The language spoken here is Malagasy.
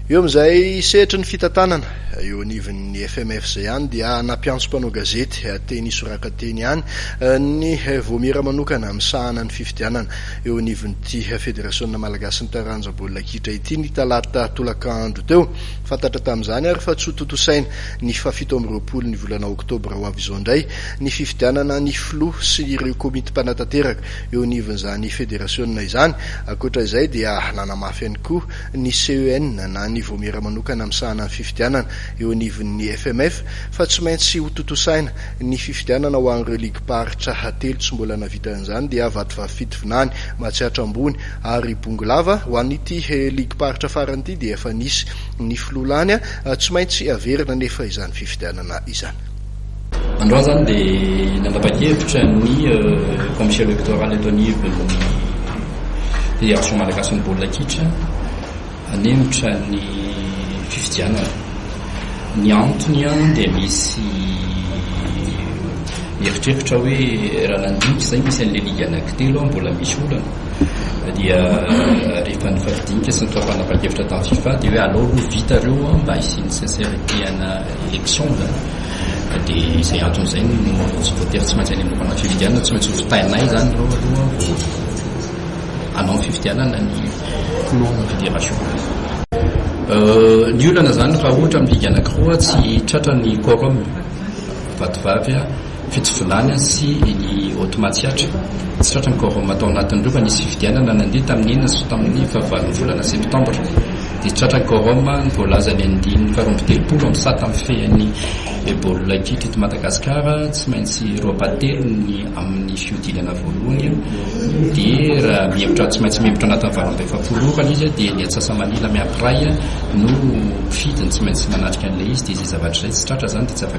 Eo amin'izay sehatry ny fitantanana eo anivon'ny FMFJ ihany dia nampiantso mpanao gazety teny Soraka teny ihany ny Vaomiera manokana misahana ny fifidianana eo anivon'ity Federasiona malagasin'ny taranja baolina kitra ity ny talata tolaka andro teo. Fantatra tamin'izany ary fa tsy ho tontosaina ny fahafito amby roapolo ny volana oktobra ho avy izao indray ny fifidianana ny filoha sy ireo komity mpanatanteraka eo anivon'izany federasiona izany. Ankoatra izay dia nanamafy ihany koa ny CEN na ny Vaomiera Manokana Misahana ny Fifidianana eo anivon'ny FMF fa tsy maintsy hotontosaina ny fifidianana ho an'ireo ligim-paritra hatelo tsy mbola navita an'izany dia Vatovavy-Fitovinany, Matsiatra Ambony ary Bongolava. Ho an'ity ligim-paritra farany ity dia efa nisy ny filoha lany, tsy maintsy averina anefa izany fifidianana izany. Androany izany dia nanapa-kevitra ny Commission Electorale eto anivon'ny Fédération Malagasin'ny Baolina Kitra hanemotra ny fifidianana. Ny antony dia misy mieritreritra hoe raha nandinika izay misy an'ilay ligue anankitelo mbola misy olana dia rehefa nifampidinika sy nitao fanapan-kevitra tamin'ny fifa dia hoe alao aloha vita ireo mba hisian'ny sincérité ana élection zany ka de izay antony izay no mahatonga tsy voatery tsy maintsy any amin'ny mpanao fifidianana tsy maintsy ho fitainay zany ireo aloha vao hanao ny fifidianana ny filohana fédération ny olana zany raha ohatra amin'ny ligue anankiroa tsy tratra ny quorum vatovavy a Fitsovolana sy ny ôty matsiatra. Tsy tratran'ny Corona tao anatin'ny rova nisy fifidianana nandeha tamin'ny enina sy tamin'ny fahavalon'ny volana septambra, dia tratran'ny Corona ny voalazan'ny andiany faharoa amby telopolo amin'ny sata mifehin'ny Ebola kitra eto Madagasikara, tsy maintsy roapatelo ny amin'ny fihodinana voalohany dia raha mihemotra tsy maintsy mihemotra anatin'ny valo amby efapolo ora izy dia ny antsasa-manila miankiray no fidiny tsy maintsy manatrika an'ilay izy dia izay zavatra izay tsy tratra izany dia tsy afaka